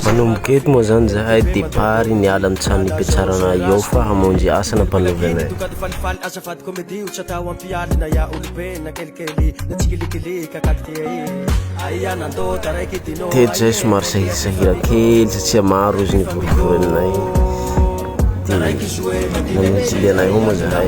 Manomboka eto moa zany izahay départ niala ny tany nipetrarana eo fa hamonjy asa nampanaovy anay. Teto zay somary sahirsahira kely satsia maro izy nivorivory aminay de nanotily anay ao moa zahay.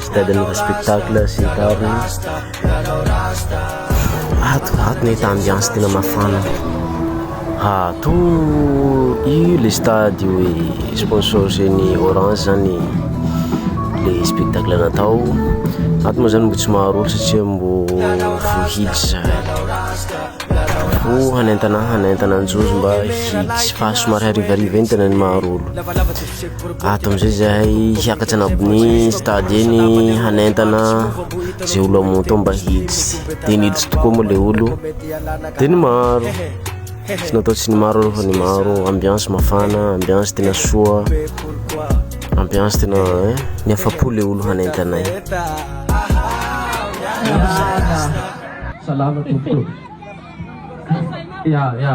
Stade Nova Spectacle sy ny tariny. Ato, ato ny état ambiance tena mafana. Ato io le stade io e sponsorisé ny Orange zany le spectacle natao. Ato moa zany mbo tsy maro olo satria mbo voahidy zay. Ho hanentana hanentana anjozo mba hiditra fa somary harivariva iny tena ny maro olo. ato amizay zahay hiakatra anabony stade eny hanentana ze olo amoto mba hiditsy de niditsy tokoa moa le olo de ny maro tsy natao tsy ny maro aloha ny maro ambiance mafana ambiance tena soa ambiance tena eh, ny afapo le olo hanentanay salama tompoko ya ya